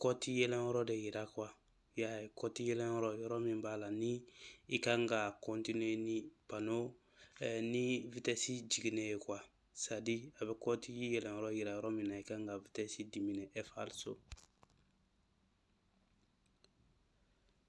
kɔti yɛlɛn yɔrɔ de yira kuwa ya kɔti yɛlɛn yɔrɔ yɔrɔ min b'a la ni i kan ka kɔntine ni pano eh, ni vitɛsi jiginnen ye kuwa sadi a bɛ kɔti yɛlɛn yɔrɔ yira yɔrɔ min na i kan ka vitɛsi dimine falso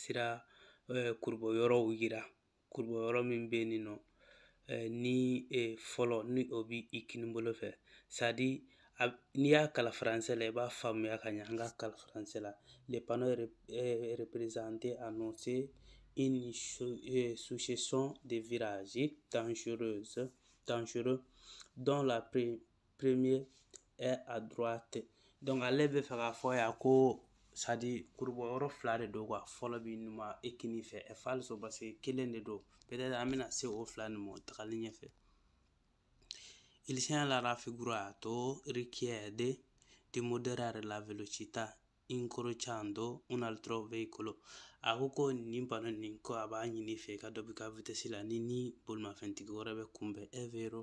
sira kurubo yɔrɔw yira kurubo yɔrɔ min bɛ yen nɔ ni fɔlɔ ni o bɛ i kini bolo fɛ sadi n'i y'a kalan faransɛ la i b'a faamuya ka ɲɛ an ka kalan faransɛ la le panneau représenté annonce une succession de virages dangereux dont la première est à droite donc ale bɛ fɛ k'a fɔ yan ko sadi kurubɔ yɔrɔ fila de don kuwa fɔlɔ b'i numan eh, kini fɛ è falso paseke kelen de don peut-être an bɛna se o fila nin ma tagali ɲɛfɛ il segnale raffigurato richiede di moderare la velocità incrociando un altro veicolo a ko ko nin pano nin ko a b'a ɲini i fɛ i ka dɔ b'i ka vitesse la n'i ni bolimafɛntigi wɛrɛ bɛ kunbɛn è vero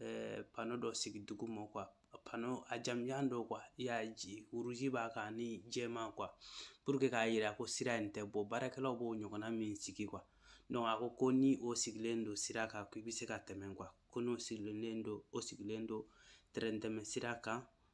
eh, pano dɔ sigi dugu ma kuwa pano a jamanjan don kuwa i y'a ye rouge b'a kan ni jɛman kuwa pour que k'a yira ko sira in tɛ bɔ baarakɛlaw b'o ɲɔgɔnna min sigi kuwa donc a ko ko ni o sigilen don sira kan ko i bɛ se ka tɛmɛ kuwa ko n'o sigilen don o sigilen don tɛrɛn tɛmɛsira kan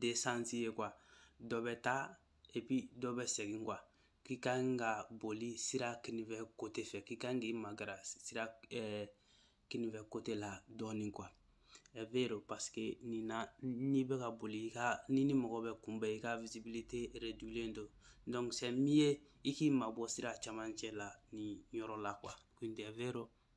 deux sens ye kuwa dɔ bɛ taa epi dɔ bɛ segin kuwa k'i ka kan ka boli sira kinifɛ kote fɛ k'i ka kan k'i magara sira eh, kinifɛ kote la dɔɔnin kuwa è vero paske nin na n'i bɛ ka boli i ka n'i ni mɔgɔ bɛ kunbɛn i ka visibilité réduilen don donc c'est mieux i k'i mabɔ sira camancɛ la nin yɔrɔ la kuwa quindi vero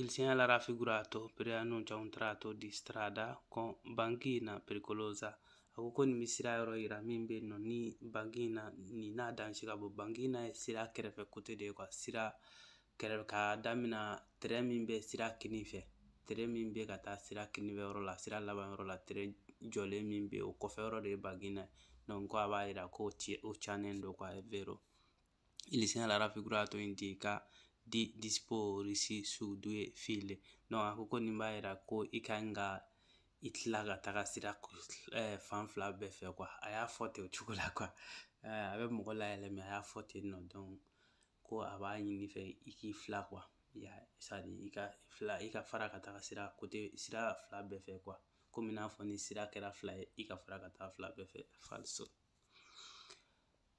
Il segnale raffigurato preannuncia un tratto di strada con banchina pericolosa. A ko ko nin bɛ sira yɔrɔ yira min bɛ yen nɔ ni banchina nin n'a danger ka bon banchina ye sira kɛrɛfɛ kote de ye kuwa sira kɛrɛfɛ ka damina trait min bɛ sira kini fɛ trait min bɛ ka taa sira kini fɛ yɔrɔ la sira laban yɔrɔ la trait jɔlen min bɛ o kɔfɛ yɔrɔ de ye banchina ye donc ko a b'a yira ko o cannen don kuwa vero il segnale raffigurato indica di disporsi su due file no a ko ko nin b'a yira ko i ka kan ka i tila ka taga sira eh, fan fila bɛɛ fɛ kuwa a y'a fɔ ten o cogo la kuwa eh, a bɛ mɔgɔ layɛlɛ mɛ a y'a fɔ ten nɔ donc ko a b'a ɲini i fɛ i k'i fila kuwa ya sadi i ka fila i ka fara ka taga sira kote sira fila bɛɛ fɛ kuwa komi n'a fɔ ni sira kɛra fila ye i ka fara ka taa fila bɛɛ fɛ falso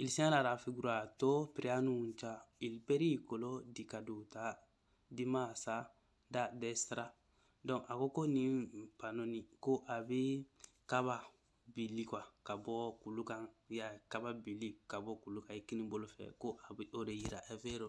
Il segnale raffigurato preannuncia il pericolo di caduta di massa da destra. Donc a ko ko nin pano ni ko a bɛ kaba bili quoi ka bɔ kulu kan ya kaba bili ka bɔ kulu kan i kini bolo fɛ ko a bɛ o de yira è vero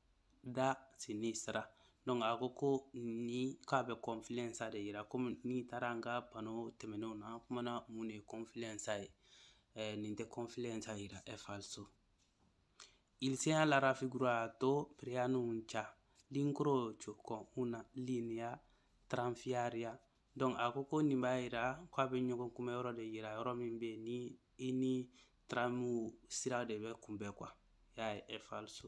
da sinistra donc a ko ko ni k'a bɛ confluenza de yira komi n'i taara an ka pano tɛmɛnenw na an kumana mun de ye confluenza ye eh, nin tɛ confluenza yira è falso il segnale raffigurato preannuncia l'incrocio con una linea tranviaria donc a ko ko nin b'a yira ko a bɛ ɲɔgɔn kunbɛ yɔrɔ de yira yɔrɔ min bɛ yen ni i ni taramu sira de bɛ kunbɛn quoi ya è falso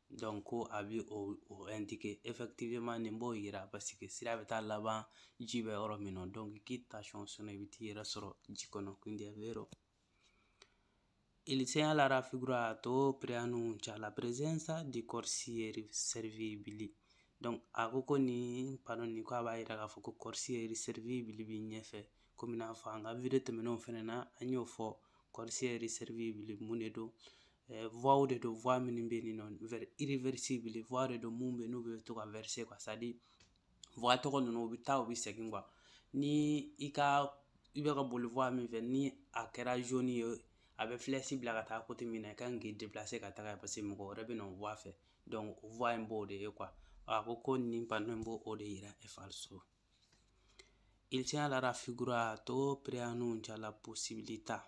donc ko a bɛ o o indiquer effectivement nin b'o yira parce que sira bɛ taa laban ji bɛ yɔrɔ min na donc k'i tension sɔnna i bɛ t'i yɛrɛ sɔrɔ ji kɔnɔ quindi è vero Il segnale raffigurato preannuncia la presenza di corsie reversibili. Donc a ko ko nin pano nin ko a b'a yira k'a fɔ ko corsie reversibili b'i ɲɛfɛ komi n'a fɔ an ka video tɛmɛnenw fɛnɛ na an y'o fɔ corsie reversibili mun de don eh, voie de don voie minnu bɛ yen nɔ réversible voie de don mun bɛ n'u bɛ to ka verser quoi c'est à dire voie tɔgɔ ninnu u bɛ taa u bɛ segin quoi ni i ka i bɛ ka boli voie min fɛ ni a kɛra jaune ye a bɛ flèche bila ka taa côté min na i kan k'i déplacer ka taga parce que mɔgɔ wɛrɛ bɛ na o voie fɛ donc o voie in b'o de ye quoi a ko ko nin panneau in b'o o de yira è falso Il segnale raffigurato preannuncia la possibilità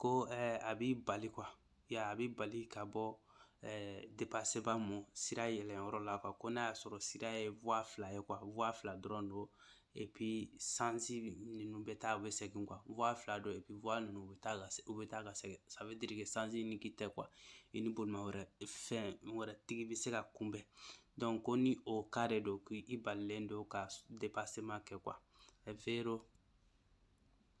ko eh, a b'i bali quoi ya a b'i bali ka bɔ eh, dépassement ma sira yɛlɛnyɔrɔ la quoi ko n'a y'a sɔrɔ sira ye voie fila ye quoi voie fila dɔrɔn don et puis sens ninnu bɛ taa u bɛ segin quoi voie fila don et puis voie ninnu u bɛ taa ka u bɛ taa ka segin ça veut dire que sens unique tɛ quoi i ni bolima wɛrɛ fɛn wɛrɛ tigi bɛ se ka kunbɛn donc ko ni o cas de don k'i balilen don ka dépassement kɛ quoi è vero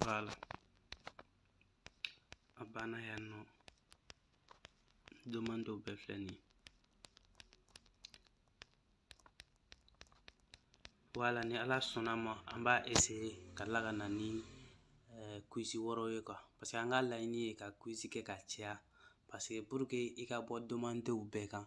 voilà a banna yan nɔ demandew bɛɛ filɛ nin ye voilà ni ala sɔnna ma an b'a essayer ka tila ka na ni eh, quiz wɔɔrɔ ye quoi parce que an ka laɲini ye ka quiz kɛ ka caya parce que pour que i ka bɔ demandew bɛɛ kan